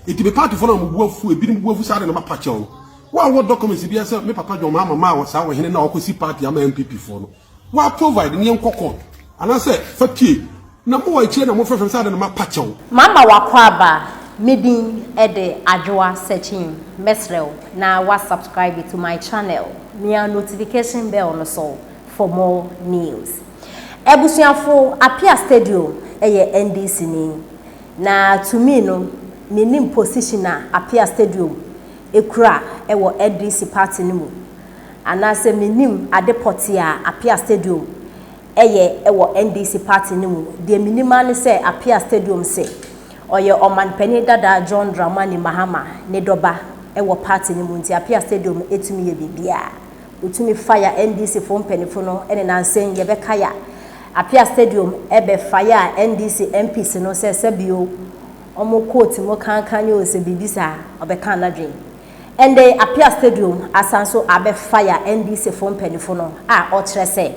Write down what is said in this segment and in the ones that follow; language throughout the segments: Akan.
Enti me paatofo no a wɔn bo afu, ebinom bo afu saa de no mapa kyɛw no. Wo a wowɔ documents biara sɛ me papa John Mahama maa wɔ saa ɔhene no a ɔkɔsi party ama NPP foɔ no, wo a provide na yɛnkɔ court. Anaasɛ fa pie. Na mowɔ akyire na mofrɛfrɛ me saa de no mapa kyɛw. Mama w'akwaaba, me din de Adwoa Sekyim, mɛsrɛ wo na wa subscribe to my channel, mia notification bell no so for more news. Abusuafo, Appiah Stadium yɛ NDC ni. Na to me no me nim position a Apia stadium kura wɔ NDC party no mu anaa sɛ me nim ade pɔtee a Apia stadium yɛ wɔ NDC party no mu, deɛ me nim ara ne sɛ Apia stadium se ɔyɛ ɔmanpanin dada John Dramani Mahama ne dɔba wɔ party no mu nti Apia stadium tumi yɛ biribiara. Wotumi fa ya NDC foɔ mpanyinfo no ne nansɛn yɛ bɛka ya Apia stadium bɛ fa ya NDC MPs no sɛ sɛbi o ɔmo coat mu kankan ni o sɛ biribi saa ɔbɛ kan nadwen ɛndɛ yi Apia stadium asan so a bɛ fa ya NDC foɔ mpanyinfo no a ɔkyerɛ sɛ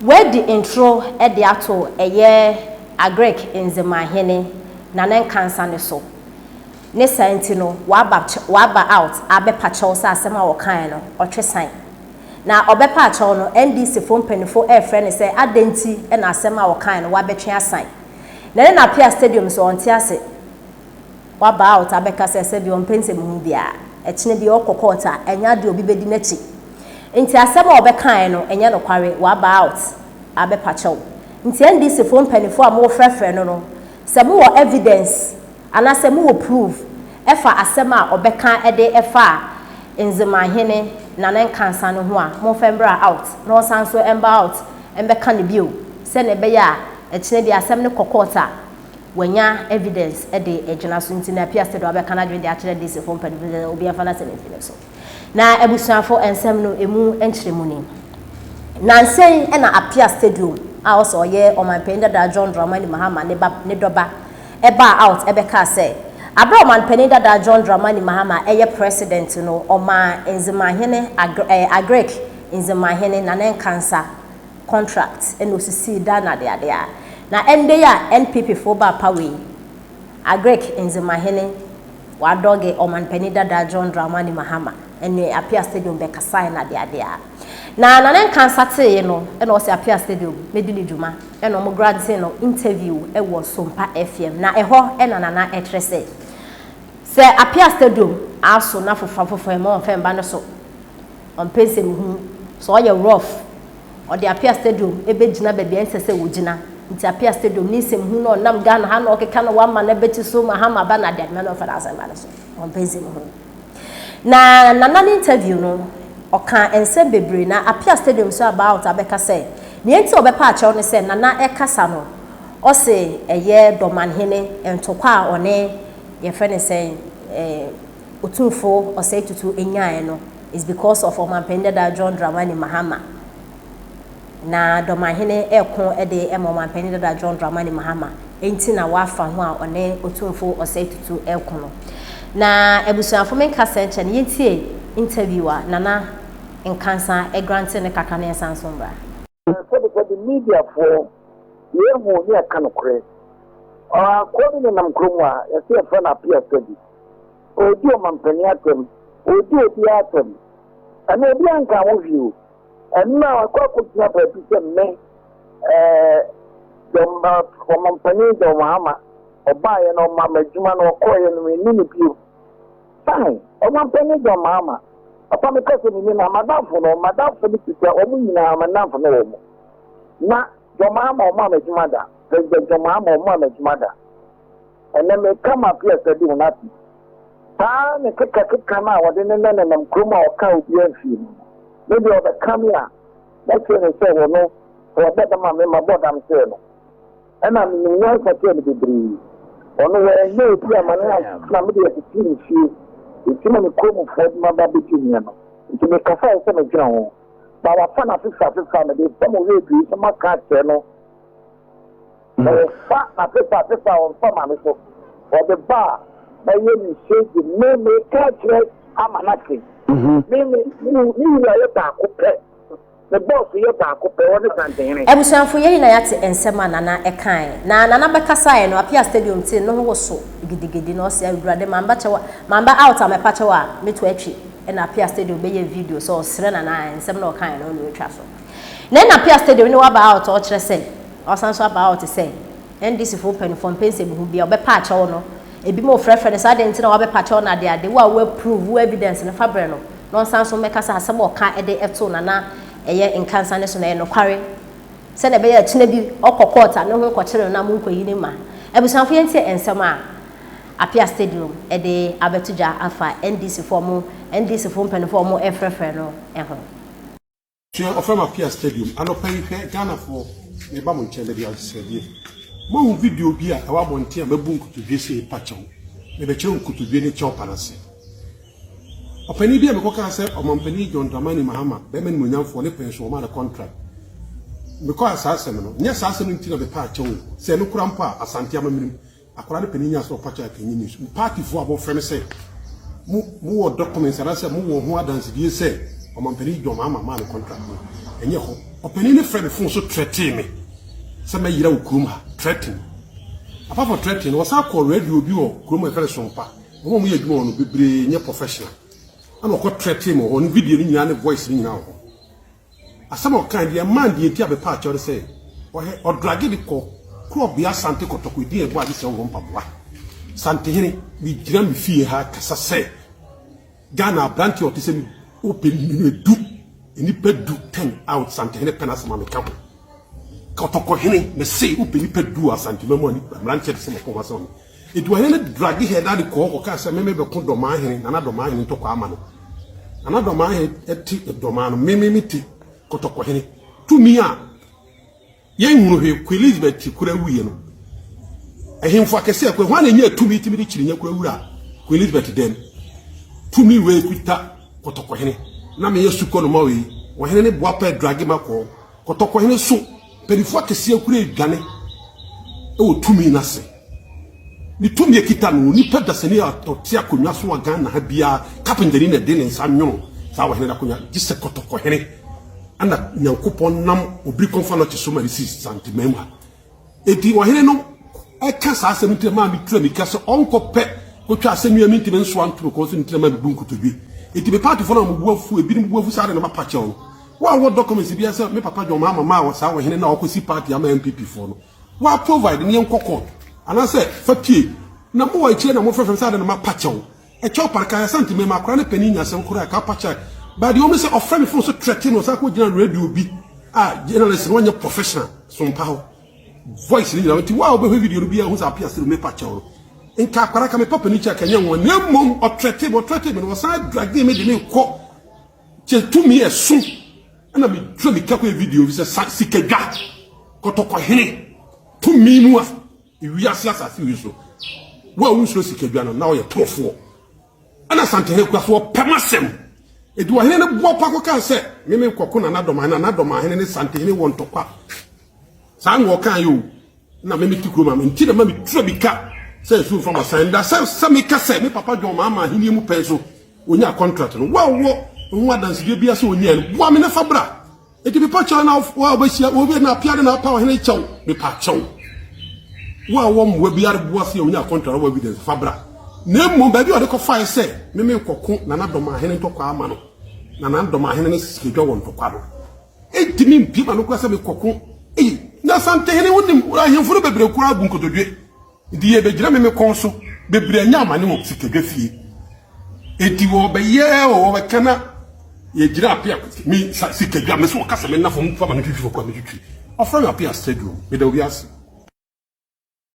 wadi ntoro de ato ɛyɛ Agric Nzema hene Nana Nkansah no so. Ne saa nti no, waba ch waba out abɛpa kyɛw sɛ asɛm a ɔkaeɛ no, ɔtwe san. Na ɔbɛpa akyɛw no, NDC foɔ mpaninfoɔ refrɛ no sɛ adɛn nti na asɛm a ɔkaeɛ no wabɛtwe asan. Na ne na Apia Stadium nso ɔnte ase, waba out abɛka sɛ sɛbi ɔmpɛ nsɛmhunu biara. Ɛkyena biara ɔkɔ court a, ɛnyɛ adeɛ a obi bɛdi n'akyi. Nti asɛm a ɔbɛkaeɛ no, ɛnyɛ nokware, waba out abɛpa kyɛw. Nti NDC foɔ mpaninfoɔ a morefrɛfrɛ no no, sɛ mowɔ evidence, Anasɛ mowɔ proof ɛfa asɛm a ɔbɛka ɛde ɛfa Nzemahene Nana Nkansah no ho a monfa mbra out na ɔsan so mba out mbɛka no bio sɛnea ɛbɛyɛ a ɛkyena bi asɛm no kɔ court a wanya evidence ɛde agyina so nti na Apiasedo abɛka nadwene de akyerɛ DC foɔ mpanyinfoɔ sɛ obiara mfa nasɛm nsi no so. Na abusuafo nsɛm no emu nkyerɛmu ni. Nnansa yi na Apia Stadium a ɔsɛ ɔyɛ Ɔmanpanyin dada John Dramani Mahama ne ba ne dɔba baa out bɛkaa sɛ aberɛ a Ɔmanpanyin dada John Dramani Mahama yɛ President no ɔmaa Nzemahene Agric Nzemahene Nana Nkansa contract na ɔsisii dan no adeade a na ɛndɛ yi a NPP foɔ baa power yi Agric Ndzemahene Wadoghe Ɔmanpanyin Dada John Dramani Mahama ne Apia Stadium bɛkasae na adeade a na Nana Nkansa tee no na ɔse Apia Stadium medi no dwuma na ɔmo grantee no interview wɔ Sompa FM na ɛhɔ na Nana kyerɛ sɛ sɛ Apia Stadium aso na fofoafofoa mu a ɔmfɛmba no so ɔmpɛ nsɛmuhunu sɛ ɔyɛ rough Ɔde Apia Stadium bɛgyina baabi a ɛnsɛ sɛ wɔgyina nti Apia Stadium ne nsɛmhu no ɔnam Ghana ha na ɔkeka no Wamma no abɛkyi so Mahama aba no adeadema no ɔmfa n'asɛmpa no so ɔmpɛ nsɛmhu no Na Nana no interview no ɔkaa nsɛm bebree na Apia Stadium nso aba out abɛka sɛ nea nti a ɔbɛpa akyɛw ne sɛ Nana kasa no ɔse ɛyɛ Dɔmanhene ntɔkwa a ɔne yɛfrɛ no sɛn eh, Otumfo Osei Tutu nyae no is because of Ɔmanpanin Dada John Dramani Mahama. Na Dɔmahene reko de ma Ɔmanpanin Dada John Dramani Mahama nti na wafa ho a ɔne Otumfo Osei Tutu reko no. Na abusuafo menka sɛ nkyɛ no yɛntie interview a Nana Nkansah grante no kakra na yɛnsan nso mmra. Sɛbesɛbe Mediafoɔ, Yehu ne Yɛka Nokorɛ. Ɔakoa bi nenam kuro mu a yɛse yɛfrɛ no Apia Sadi. Ɔredi ɔmampanin atɛm, ɔredi obiara atɛm. Ɛno obiara nkaa ho hwee o. Ɛno na wakɔ akɔgyina baabi sɛ me, eh, the ɔmampanin John Mahama, ɔbaeɛ no ɔmaa me adwuma no ɔkɔeɛ no menni no bio. Fine, ɔnyampɛ ne dza ɔmaa ma. Papa me kasa mu nye no a, m'adamfo no, m'adamfo no tsitsir a, hɔn nyina, me nnamfo na wɔwɔ mu. Na John Mahama ɔmaa me edwuma da, President John Mahama ɔmaa me edwuma da. Ndɛ mekã m'apia sɛ de hɔn afi. Saa ne kekakeka no a wɔde ne nɛ nenam kurom a ɔkãa obiara mmfii no no. Me de ɔbɛkã me a, mɛkyerɛ no sɛ hɔ no, sɛ ɔbɔ dam a, me mabɔ dam kyerɛ no. Ɛna menim nyansa kyɛɛ no bebree. Ɔno wannya obi a ma ne nante na mede akyekyere me fie, enti na me kuromufoɔ de m'aba bɛdi hene no. Enti mekasaeɛ sɛ medwene ho, na wafa no afefa afefa a mede nsɛm ɔhwɛ aduoyi so maka akyerɛ no, na ɔfa no afefa afefa a ɔmfa ma me so, ɔde ba a mɛyɛ no hyɛgye me meka akyerɛ ama no ate. Me, me, me, me wura yɛ baako pɛ. Ne bɔs yɛ baako pɛ, ɔne Santenhene. Abusuafo, yɛn nyinaa yɛate nsɛm a Nana kae. Na Nana bɛkasaeɛ no, Apia Stadium tee no ho woso gidigidi, na ɔse, Awurade, mamba kyɛw a, mamba out a, mɛpa kyɛw a, mɛtu atwi. Ɛna Apia Stadium bɛyɛɛ video sɛ ɔsrɛ Nana a nsɛm no a ɔkaeɛ no, ɔne ɔtwa so. Na ɛna Apia Stadium ne waba out a, ɔkyerɛ sɛ, ɔsan nso aba out sɛ, NDC foɔ mpaninfoɔ mpɛ nsɛmhu biaa, ɔbɛpa akyɛw no. Ɛbinom frɛfrɛ no sɛ, adɛn nti na wabɛpa kyɛw no, adeade, wo a wo approve, wo evidence no, fa brɛ no. na ɔnsan nso mmɛka sɛ asɛm a ɔka de too Nana ɛyɛ nkansa no so no ɛyɛ nokware sɛnea ɛbɛyɛ a akyina bi ɔkɔ court a ne ho nkɔkyere no na monkɔyi ne mma. Abusuafo yɛntie nsɛm a Apia Stadium de abɛto dwa afa NDC foɔ a wɔn NDC foɔ mpanyinfoɔ a wɔrefrɛfrɛ no ho. Hwɛ ɔfrɛ ma pia stadium anɔpa yi hwɛ Ghana foɔ meba mo nkyɛn mede asesɛdeɛ moahu video bi a ɛwɔ abɔnten a mabu nkotodwe sɛ ɛpa kyɛw mebɛkyerɛ nkotodwe ne kyɛw pa no ase ɔpanin bi a mekɔkaa sɛ ɔmampanin John Dramani Mahama bɛma nimonyamfoɔ ne pɛn so ɔma no contract mekɔa saa asɛm no nyɛ saa asɛm no nti na mepɛ akyɛw sɛ no kora mpo a asante amamene mu Akwadaa no panin nyaa sɛ ɔpa kyɛw a ɛnyɛ news. Mo paatifoɔ a mofrɛ no sɛ mo mo wɔ documents anaasɛ mo wɔ ho adansedie sɛ ɔmampanin John Mahama maa no contract no, ɛnyɛ hɔ. Ɔpanin no frɛ me phone so threaten me sɛ mɛyera wɔ kurom ha. Threaten. Apart from threaten no, ɔsan kɔɔ radio bi wɔ kurom a yɛfrɛ no Sompa. Wɔn a wɔyɛ adwuma wɔ no bebree nyɛ professional. Ɛna ɔkɔ threaten me wɔ hɔ. Ne video no nyinaa ne voice no nyinaa wɔ hɔ. Asɛm a ɔkae de ɛmaa no deɛ enti a mepaa kyɛw ne sɛ ɔyɛ ɔdrage de kɔ kurɔbea Sante kɔtɔkɔ edin a ɛbɔ agye sɛ ɔwɔ mpaboa. Santehene, megyina me fie ha rekasa sɛ Ghana aberanteɛ a ɔte sɛ me ɔpɛ nnipa du, nnipa du, ten a ɔte Santehene pɛ n'asɛm a meka ho. Kɔtɔkɔhene, mese wopɛ nnipa du wɔ Asantema mu a mmeranteɛ te sɛ me pɛ wɔn asɛm a me. Eduahene no drage Hɛdade kɔɔ kɔkaa sɛ, Meme bɛko Dɔmaa hene na na Dɔmaa hene ntɔkwaa ma no. Na na Dɔmaa hene te Dɔmaa no, Meme mete Kɔtɔkɔ hene. Tumi a yɛnhunu hwee Queen Elizabeth ti kora wuiɛ no, ahemfo akɛse akɔ, hwan na ɛnyaa tumi tumi de kyirinya kora wura Queen Elizabeth dɛm? Tumi wei kuta Kɔtɔkɔ hene. Na meyɛ sukɔ no ma wei. Ɔhene ne boapa drage ma kɔɔ Kɔtɔkɔ hene so. Mpanyinfoɔ akɛseɛ kura aduane wɔ tumi no ase. Ne tumi ekita no, onipa dasani a ɔte akonnwa so wɔ Ghana ha biara, kapentani na ɛde ne nsa nwono saa ɔhene no akonnwa, gye sɛ kɔtɔkɔhene ɛna Nyankopɔn nam obiri kɔnfa no te so ma ne si santeman mu ha. Eti ɔhene no ɛka saa asɛm ntina maa me tura mika sɛ ɔnkɔpɛ kɔtwa asɛm yi a mentumi nsoa nto me kɔn so ntina maa me bu nkotodwe. Eti me paatofo no a wɔbu afu, ebinom bu afu saa de na mapa kyɛw no. Wa wɔ documents bia sɛ me papa John Mahama maa wɔ saa ɔhene na ɔkɔ si party ama NPP foɔ no? Wa provide ne yɛn kɔ court. Anasɛ fa pie. Na mo wɔ akyire na mo frɛfrɛ me sɛ adɛn na ma pa kyɛw. Ɛkyɛw pa nka Asante mɛma akora ne panin nya asɛm koraa ka pa kyɛ. But deɛ ɔmo sɛ ɔfrɛ me phone so threaten me ɔsan kɔ gyina radio bi a journalist no ɔnyɛ professional so mpa hɔ. Voice ne nyina nti wa ɔbɛ hwɛ video no bia hu sɛ apia sɛ me pa kyɛw no. Nka akora ka me pa panin kyɛ ka nyɛ nwa. Na mmom ɔthreaten me ɔthreaten me na ɔsan drag me de me kɔ. Kyɛ tumi ɛso ɛna me twa me kakɔ video bi sɛ sa sikadwa kɔtɔkɔhene tumi mu a ewiase asase wi so wo a wonsuro sikadwa no na ɔyɛ torofoɔ ɛna santehene kura so ɔpɛ masɛm ɛdi ɔhene no boɔ pa kɔkaa sɛ meme nkɔko na nadɔmahene na nadɔmahene ne santehene wɔ ntɔkwa saa na ɔkaa yɛ o na me mete kurom a me nti na ma metua bi ka sɛ nsu mfa ma san da sɛ sɛ meka sɛ me papa John ma ama ahenni mu pɛn so ɔnya contract no wɔwɔ ho adansedie bia sɛ ɔnya no boa me na fa bra ɛti mepa kyɛw na wa wobɛhyia obi na apia de na apa ɔhene kyɛw mepa kyɛw wa wɔ mmoa biara boa sɛ ɔnya contract wɔ evidence fa bra na mmom baabi a ɔde kɔfaeɛ sɛ meme kɔko na nadɔm ahene ntɔkwa ama no na nadɔm ahene no sikadwa wɔ ntɔkwa no Entumi mpue ma no koraa sɛ mekɔko. Ei, na Asantehene, wonim, ahemfo no bebree koraa bu nkotodwe. Enti yebegyina me me kɔn so. Bebree anya amane wɔ sikadwa fie. Enti wɔbɛyɛ o, wɔbɛka na yɛgyina apea me sikadwa. Me so wɔka sɛ menna fam mfa ma no twitwi fam koraa metwitwi. Wɔfrɛ me apea stadium. Meda obi ase.